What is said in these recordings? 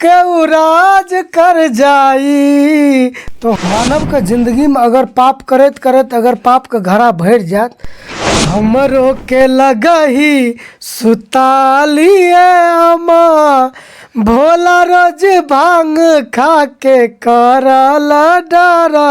केहू राज कर जाई तो मानव के जिंदगी में अगर पाप करैत करैत अगर पाप के घड़ा भरि जायत हमरो के लगही सुतालिए अमा भोला रोज भांग खा के करल डरा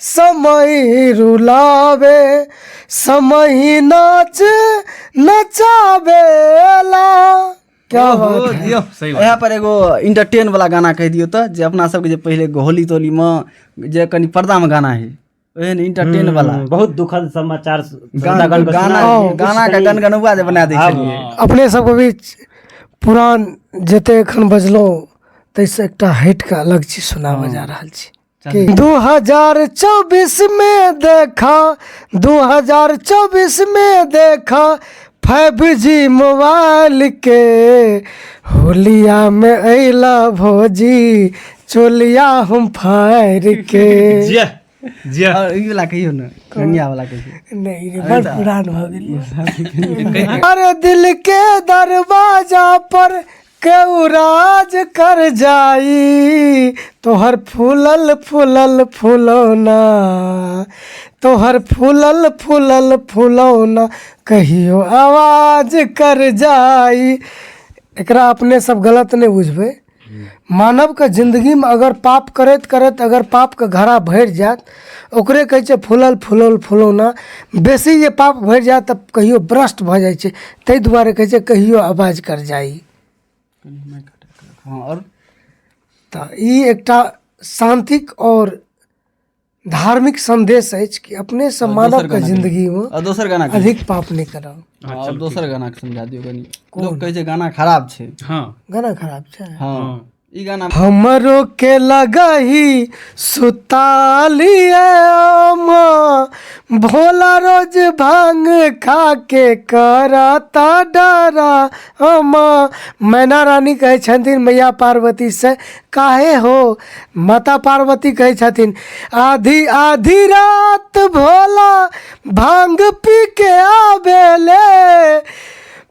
समही रुलावे समही नाच नचावेला क्या ओहो, बात है? दियो, सही बात यहाँ पर एगो इंटरटेन वाला गाना कह दियो तो जे अपना सबके जे पहले एगो होली तोली में जे कनी पर्दा में गाना है ओहन इंटरटेन वाला हम्म, बहुत दुखद समाचार गाना श्रोतागण को गाना सुनाओ। कुछ गाना के कहीं- गनगनौआ जे बना दै आब- छलियै अपने सबके बीच पुरान जते एखन बजलहुँ ताहिसँ एकटा हटि कऽ अलग चीज सुनाबऽ जा रहल छी चल दू हजार चौबीस मे देखा दू हजार चौबीस मे देखा फाइव जी मोबाइल के होलिया में अला भौजी चोलिया हम फायर के जिया जिया और ई वाला कहियो ना कन्या वाला कहियो नहीं रे बड़ पुरान हो गेल अरे दिल के दरवाजा पर केहू राज कर जाई तोहर फूलल फूलल फुलौना तोहर फूलल फूलल फुलौना कहियो आवाज कर जाई एकरा अपने सब गलत नहि बुझबै मानवके जिन्दगीमे अगर पाप करैत करैत अगर पापके घड़ा भरि जायत ओकरे कहै छै फूलल फूलल फुलौना बेसी जे पाप भरि जाय तऽ कहियो ब्रस्ट भऽ जाइ छै ताहि दुआरे कहै छै कहियो आवाज कर जाइ हँ आओर तऽ ई एकटा शान्तिक आओर धार्मिक संदेश अछि कि अपने से मानव के जिंदगी मे आओर दोसर गाना कहियौ। अधिक पाप नहि करब हँ, आओर दोसर गाना समझा दियौ कनि लोक कहै छै गाना खराब छै हँ गाना खराब छै हँ ई गाना हमरो के लगही सुतालिए अम्मा भोला रोज भांग खा के करता डरा अम्मा मैना रानी कहै छथिन मैया पार्वती से काहे हो माता पार्वती कहै छथिन आधी आधी रात भोला भांग पी के आबेले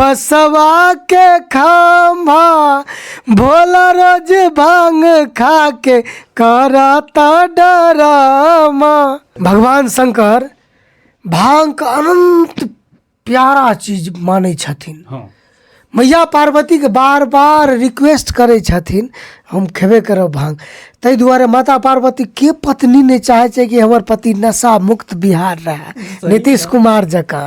बसवा के खाम्भा भोला रोज भांग खा के करता डरामा भगवान शंकर भांग के अनंत प्यारा चीज मानै छथिन हँ मैया पार्वतीके बार बार रिक्वेस्ट करै छथिन हम खेबे करब भांग ताहि दुआरे माता पार्वती के पत्नी नहि चाहै छै कि हमर पति नशा मुक्त बिहार रहए नीतीश कुमार जकाँ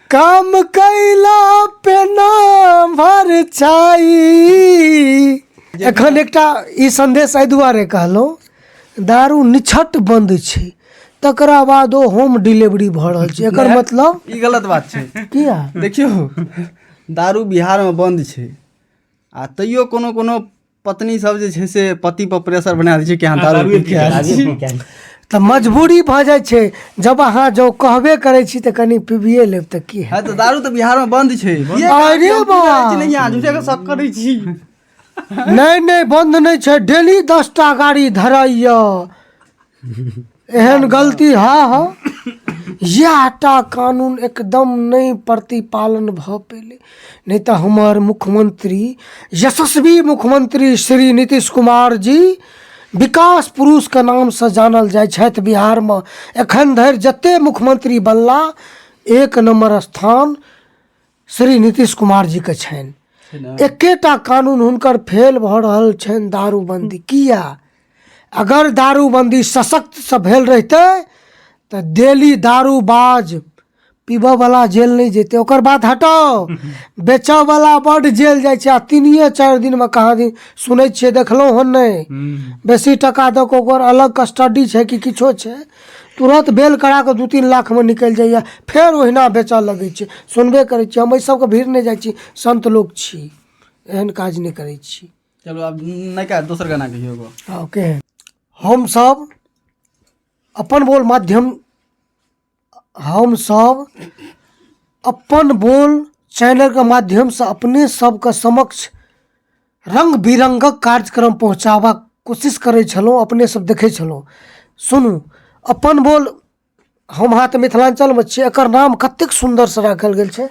काम कैला पे ना भर छाई एखन एकटा ई संदेश एहि दुआरे कहलहुँ दारू निछट बंद छै तकरा बाद ओ होम डिलीवरी भऽ रहल छै एकर मतलब ई गलत बात छै किया देखियौ दारू बिहारमे बन्द छै आ तैयो कोनो कोनो पत्नी सब जे छै से पति पर प्रेशर बना दै छै कि अहाँ दारू पी के आयल छी। तऽ मजबूरी भऽ जाइ छै जब अहाँ जँ कहबे करै छी तऽ कनि पीबिए लेब तऽ की हाँ, तो दारू तो बिहार में बंद छै ये अरे हम बा। पीबै छी नहीं, अहाँ झूठे के शक करै छी नहि नहि बन्द नहि छै डेली दस टा गाड़ी धराइए एहन गलती हँ हँ इएह टा कानून एकदम नहि प्रतिपालन भऽ पयलै नहि तऽ हमर मुख्यमंत्री यशस्वी मुख्यमंत्री श्री नीतीश कुमार जी विकास पुरुषके नामसँ जानल जाइ छथि बिहारमे एखन धरि जतेक मुख्यमंत्री बनला एक नम्बर स्थान श्री नीतीश कुमार जी के छनि छै ने एकेटा कानून हुनकर फेल भऽ रहल छनि दारूबंदी किया अगर दारूबंदी सशक्त से भेल रहिते तऽ डेली दारूबाज पीबऽ वाला जेल नहि जेते ओकर बात हटाओ बेचऽ वाला बड जेल जाइ छै आ तीनिए चारि दिन मे कहाँ दिन सुनै छियै देखलहुँ हन नहि हम्म, बेसी टका दऽ कऽ ओकर अलग कस्टडी छै कि किछो छै तुरन्त बेल करा कऽ दू तीन लाखमे निकलि जाइए फेर ओहिना बेचय लगै छै सुनबे करै छियै हम एहि सभके भिर नहि जाइ छी सन्त लोक छी एहन काज नहि करै छी चलो आब नयका दोसर गाना कहियो एगो हँ केहन हमसभ अपन बोल माध्यम हमसभ अपन बोल चैनलके माध्यमसँ अपने सभके समक्ष रङ्ग बिरङ्गक कार्यक्रम पहुँचाबक कोशिश करै छलहुँ अपने सब देखै छलहुँ सुनू अपन बोल हम अहाँ तऽ मिथिलाञ्चलमे छी एकर नाम कतेक सुन्दरसँ राखल गेल छै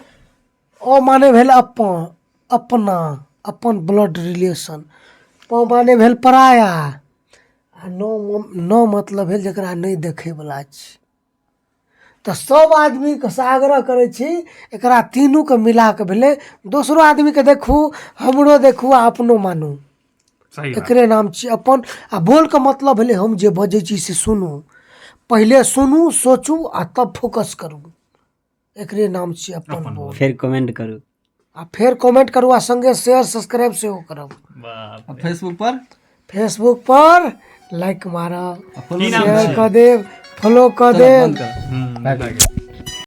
अ माने भेल अपन अपना अपन ब्लड रिलेशन प माने भेल पराया आ न म न मतलब भेल जकरा नहि देखयवला छी तऽ सब आदमीके से आग्रह करै छी एकरा तीनूके मिलाके भेलै दोसरो आदमीके देखू हमरो देखू आ अपनो मानू सही बात एकरे नाम छी अपन आ बोलके मतलब भेलै हम जे बजै छी से सुनू पहिले सुनू सोचू आ तब फोकस करू एकरे नाम छियै अपन अपन बोर्ड फेर कमेंट करू आ फेर कमेंट करू आ संगे शेयर सब्सक्राइब सेहो करब बाप आ फेसबुक पर फेसबुक पर लाइक मारब की नाम शेयर छै कऽ देब फॉलो कऽ चलो, देब बंद कर हम्म,